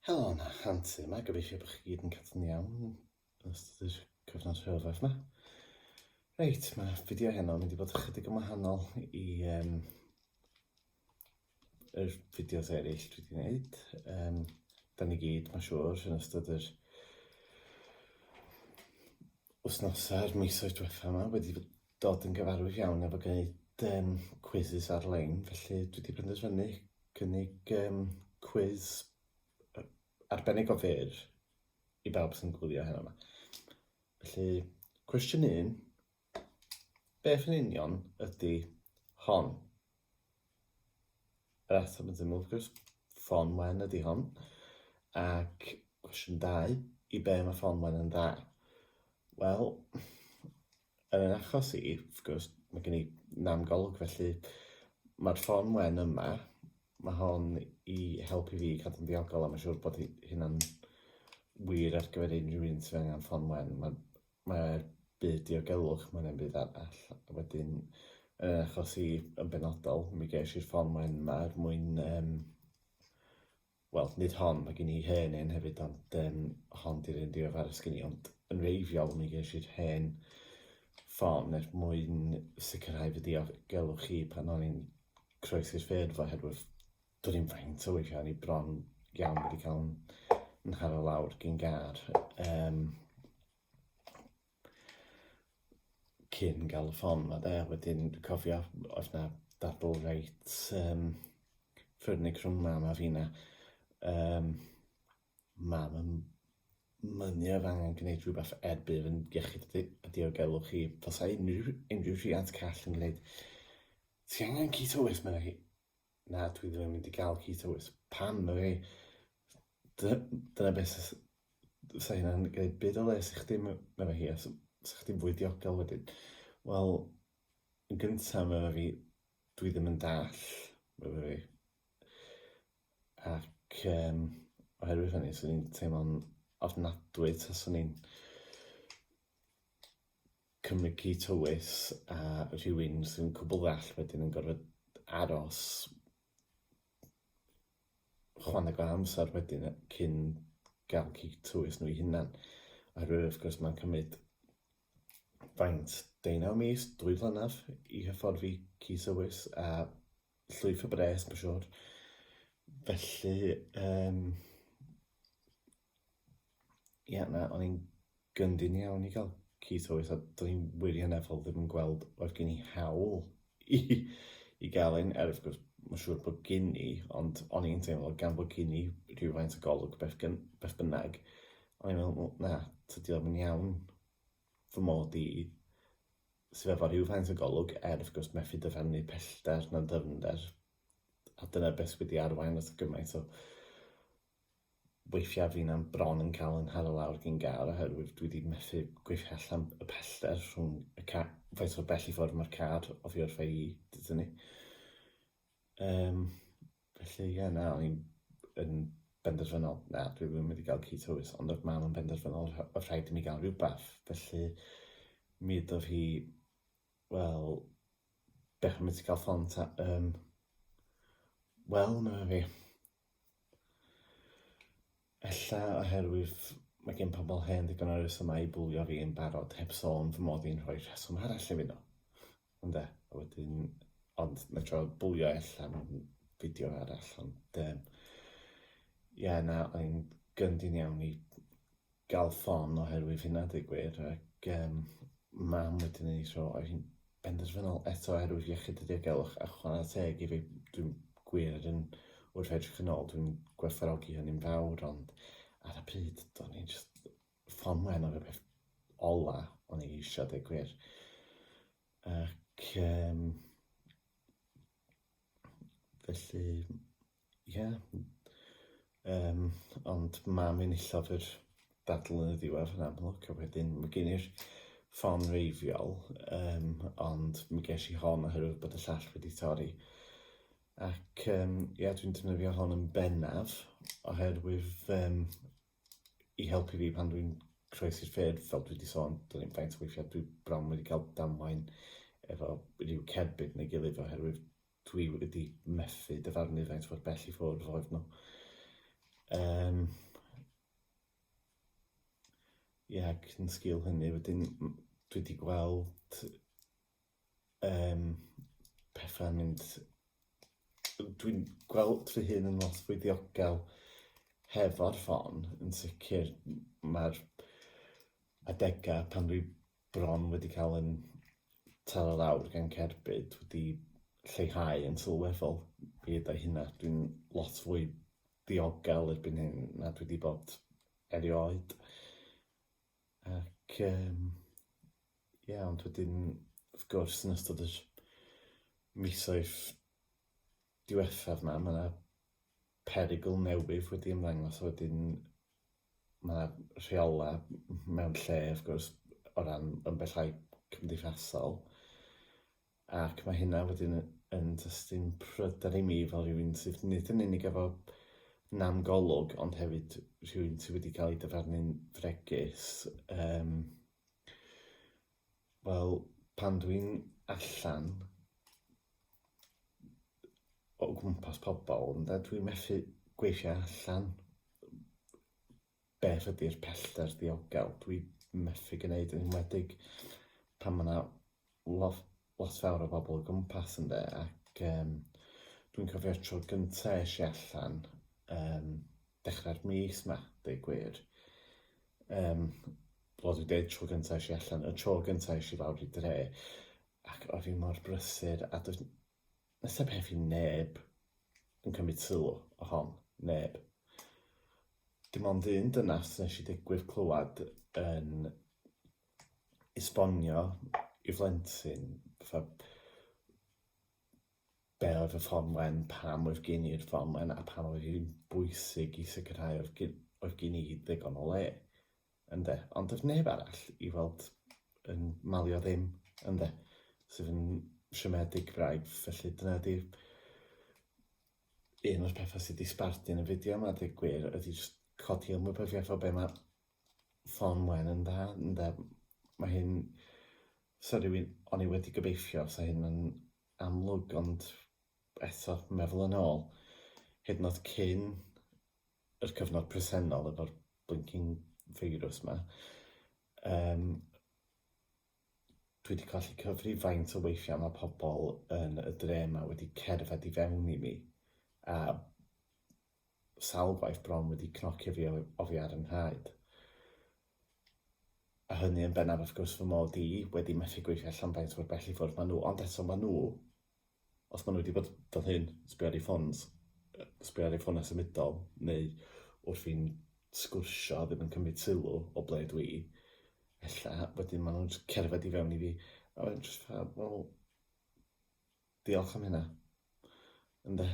Helo yna, Anti yma, gobeithio bod chi gyd yn cadw'n iawn yn ystod yr cyfnod rhyfedd yma. Reit, mae fideo heno yn mynd i fod ychydig yn wahanol i um, yr fideos eraill dwi wedi gwneud. Um, da ni gyd, mae'n siŵr, yn ystod yr wythnosau a'r misoedd diwethaf yma wedi dod yn gyfarwydd iawn efo gwneud um, quizzes ar-lein, felly dwi wedi penderfynu cynnig um, quiz arbennig o fyr i bawb sy'n gwylio heno yma. Felly, cwestiwn un, beth yn union ydy hon? Yr ateb yn syml, wrth gwrs, ffôn wen ydy hon. Ac cwestiwn dau, i be mae ffôn wen yn dda? Wel, Yn ein achos i, wrth gwrs, mae gen i nam golwg, felly mae'r llon wen yma, mae hon i helpu fi i cadw'n ddiogol a mae'n siŵr bod hynna'n wir ar gyfer unrhyw un sydd angen llon wen. Mae'r mae byd diogelwch mae'n ein byd arall. A wedyn, yn ein achos i yn benodol, mi ges i'r llon wen yma er mwyn um, wel nid hon, mae gen i hen un hefyd ond um, hon di'r un diweddaraf sgyn i, ond yn reiddiol mi ges i'r hen ffôn er mwyn sicrhau fy diogelwch chi pan o'n i'n croesi'r ffyrdd oherwydd do'n i'n faint o weithiau o'n i bron iawn wedi cael yn nharo lawr gyn gar. Um, cyn gael y ffon ma de, wedyn dwi'n cofio oedd na dadl reit um, ffyrnig rhwng mam a fina. Um, mam yn mynnu oedd angen gwneud rhywbeth er bydd yn iechyd a diogelwch chi. Fasai unrhyw, unrhyw rhiant call yn gwneud, ti angen keto waste, meddai hi. Na, dwi ddim yn mynd i gael keto oes. Pam, na fi? Dyna beth sy'n... Sa hynna'n gwneud byd o les i chdi, mae fe hi, a sa chdi'n fwy diogel wedyn. Wel, yn gyntaf, mae fe fi, dwi ddim yn dall, mae fe fi. Ac um, oherwydd hynny, swn i'n teimlo'n ofnadwy taswn i'n cymryd tywys a rhywun sy'n cwbl ddall wedyn yn gorfod aros chwaneg o amser wedyn cyn gael cig tywys nhw'i hunan. Oherwydd wrth gwrs mae'n cymryd faint deunaw mis, dwy flynedd i hyfforddi cig tywys a llwyth o bres, mae'n siŵr. Felly, um, Ie, yeah, na, o'n i'n gyndyn iawn i gael Keith Howes, a do'n i'n wirioneddol ddim yn gweld oedd gen i hawl i, i gael ein er wrth gwrs, mae'n siŵr bod gen i, ond o'n i'n teimlo gan bod gen i rhywfaint o golwg beth, gyn, beth bynnag, o'n i'n meddwl, na, tydi o'n mynd iawn fy mod i sydd efo rhywfaint o golwg, er wrth gwrs methu dyfarnu pellter na dyfnder, a dyna beth sydd wedi arwain at gymaint o weithiau fi na'n bron yn cael yn nharo lawr gin gar oherwydd dwi wedi methu gweithio allan y pellter rhwng y ca- faint mor bell i ffwrdd mae'r car oddi wrtha i dy dynnu. Um, felly ie, na, o'n i'n yn benderfynol, na, dwi ddim wedi cael ci tywys, ond oedd mam yn benderfynol oedd rhaid i mi gael rhywbeth, felly mi ydodd hi, wel, beth am i ti gael ffon ta, um, wel, na fi, Ella oherwydd mae gen pobl hen ddigon o resymau i bwlio fi yn barod, heb sôn fy mod i'n rhoi rheswm arall i fino. Ynde, a wedyn... Ond mae trio bwlio ella mewn fideo arall, ond yym ie na, o'n i'n gyndyn iawn i gael ffon oherwydd hynna dweud gwir ac um, mam wedi ni so oedd hi'n benderfynol eto oherwydd iechyd y diogelwch a chwarae teg i fi dwi'n gwir yn wrth edrych yn ôl dwi'n gwerthfarogi hynny'n fawr ond ar y pryd do'n i'n just ffon mwen o'r peth ola o'n i eisiau dweud gwir ac um, Felly, ie. Yym, ond mam enillodd yr battle yn y diwedd yn amlwg, a wedyn mae gen i'r ffon reiddiol, yym, ond mi ges i hon oherwydd bod y llall wedi torri. Ac yym, ie, dwi'n defnyddio hon yn bennaf oherwydd yym i helpu fi pan dwi'n croesi'r ffyrdd, fel dwi wedi sôn, dyn ni'n faint o weithiau dwi bron wedi cael damwain efo rhyw cerbyd neu gilydd oherwydd dwi wedi methu dyfarnu faint o'r bell i ffwrdd oedd nhw. Um, Ie, ac yn sgil hynny, wedyn dwi wedi gweld Um, pethau'n mynd... Dwi'n gweld fy hun yn lot fwy ddiogel hefo'r ffon, yn sicr. Mae'r adegau pan dwi bron wedi cael yn taro lawr gan cerbyd wedi lleihau yn sylweddol i ddau hynna. Dwi'n lot fwy diogel erbyn hyn na dwi wedi bod erioed. Ac yym ie ond wedyn wrth gwrs yn ystod yr misoedd diwethaf 'ma ma' 'na perygl newydd wedi ymddangos a wedyn ma' 'na rheola' m- mewn lle wrth gwrs o ran ambellau cymdeithasol. Ac mae hynna wedyn yn tystyn pryder i mi fel rhywun sydd nid yn unig efo nam golwg ond hefyd rhywun sydd wedi cael ei dyfarnu'n fregus. Um, Wel, pan dwi'n allan o gwmpas pobl, ynde, dwi'n methu gweithio allan beth ydy'r pellter diogel. Dwi'n methu gwneud yn enwedig pan mae yna lot lot fawr o bobl o gwmpas ynde ac yym dwi'n cofio'r tro gynta' esh i allan yym dechra'r mis 'ma deu gwir yym wel dwi'n deud tro gynta' esh i allan y tro gynta' esh i lawr i dre' ac o' fi mor brysur a does n- does 'na peth i neb yn cymryd sylw o hon, neb. Dim ond un dynas nesh i digwydd clywad yn esbonio i blentyn fatha be oedd y ffôn wen, pam oedd gen i'r ffôn wen a pam oedd hi'n bwysig i sicrhau oedd gen, oedd gen i ddigon o le. Ynde? Ond doedd neb arall i weld yn malio ddim, ynde? Sydd yn siomedig braidd, felly dyna ydy'r un o'r pethau sydd wedi sbarduno y fideo yma, dweud gwir, ydy jyst codi ymwybyddiaeth o be mae Fon Wen yn dda, ynde. Mae hyn... Sa rhywun... O'n i wedi gobeithio sa hyn yn amlwg, ond eto, meddwl yn ôl, hyd yn oed cyn yr cyfnod presennol efo'r blinking feirws 'ma, yym, dwi 'di colli cyfri faint o weithia' ma' pobl yn y dre 'ma wedi cerdded i fewn i mi, a sawl gwaith bron wedi cnocio fi oddi ar 'y nhraed, a hynny yn bennaf wrth gwrs fy mod i wedi methu gweithio allan faint mor bell i ffwrdd ma' nhw, ond eto ma' nhw, os ma' nhw wedi bod fel hyn, sbio ar eu ffôns, sbio ar eu ffônau symudol, neu wrth fi'n sgwrsio ddim yn cymryd sylw o ble dwi, ella wedyn ma' nhw'n jyst cerdded i fewn i fi, a wedyn jyst fatha, wel, Diolch am hynna. Ynde.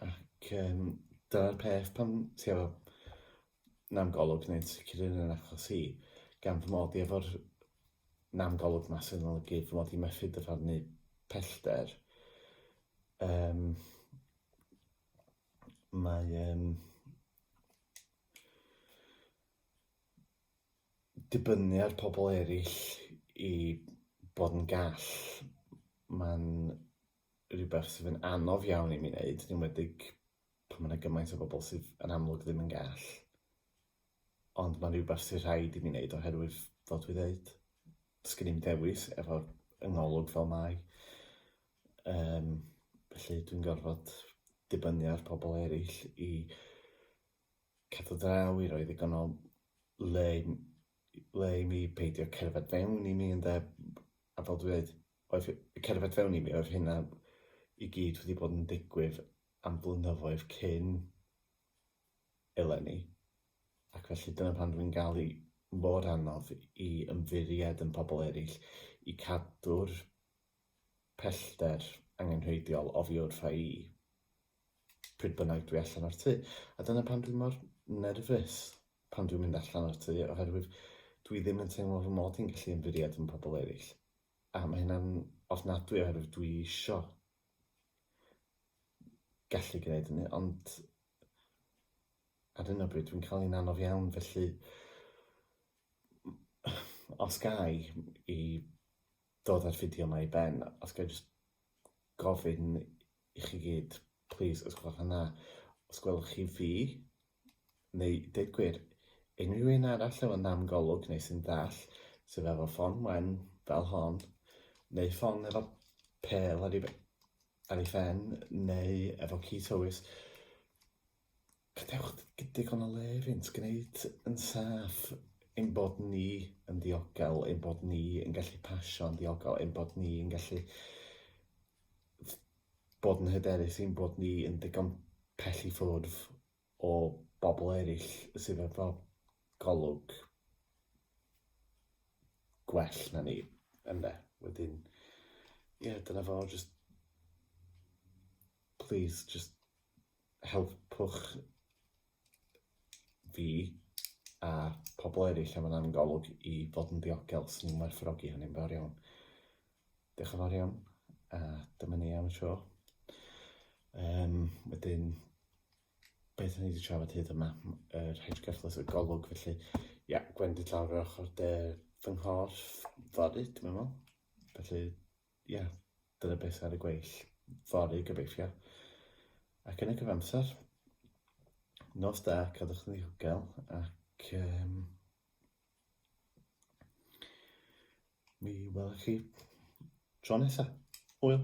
Ac um, dyna'r peth pan ti efo nam golwg neu'n sicr yn yn achos hi, gan fy mod i efo'r nam golwg ma sy'n olygu fy mod i methu dyfarnu pellter, um, mae um, dibynnu ar pobl eraill i bod yn gall, mae'n rhywbeth sydd yn anodd iawn i mi wneud, yn enwedig pan mae yna gymaint o bobl sydd yn amlwg ddim yn gall. Ond mae'n rhywbeth sydd rhaid i mi wneud oherwydd, fel dwi dweud, does gen i'm dewis efo'r yngolwg fel mae. Um, felly dwi'n gorfod dibynnu ar pobl eraill i Cadw draw i roi ddigon o le i m- le i mi peidio cerdded fewn i mi ynde b- a fel dwi ddeud oedd h- cerdded fewn i mi oedd hynna i gyd wedi bod yn digwydd am flynyddoedd cyn eleni ac felly dyna pan dwi'n ga'l i mor anodd i ymddiried yn pobl eryll i cadw'r pellter angenrheidiol oddi wrtha i. Pryd bynnag dwi allan o'r tŷ. A dyna pam dwi mor nerfus pan dwi'n mynd allan o'r tŷ, oherwydd dwi ddim yn teimlo fy mod i'n gallu ymddiried yn pobl eraill. A mae hynna'n ofnadwy oherwydd dwi isio gallu gwneud hynny, ond ar hyn o bryd dwi'n cael un anodd iawn, felly os gai i dod â'r fideo yma i ben, os gai jyst gofyn i chi gyd, plîs os gwelwch yn dda, os gwelwch chi fi, neu deud gwir, unrhyw un arall efo nam golwg neu sy'n dall, sydd efo ffon wen fel hon, neu ffon efo pel ar ei, ar ei phen, neu efo ci tywys, Gadewch digon o le iddynt gwneud yn saff ein bod ni yn ddiogel, ein bod ni yn gallu pasio'n ddiogel, ein bod ni yn gallu bod yn hyderus, ein bod ni yn ddigon pell i ffwrdd o bobl eraill sydd efo golwg gwell na ni, ynde? Wedyn, ie, dyna fo, just please, just helpwch fi a pobl eraill am yn am golwg i fod yn ddiogel sy'n ni'n werthfawrogi hynny'n fawr iawn. Diolch yn fawr iawn, a dyma ni am y tro. Um, wedyn, beth o'n i wedi trafod hyd yma, yr hedgeflus y golwg, felly, ia, yeah, gwendid lawr yr ochr de fy nghorff fory, dwi'n meddwl. Felly, Ie, dyna beth ar y gweill fory gobeithio. Ac yn y cyfamser, nos da, cadwch yn ddiogel ac um, mi welwch chi tro nesaf. Hwyl!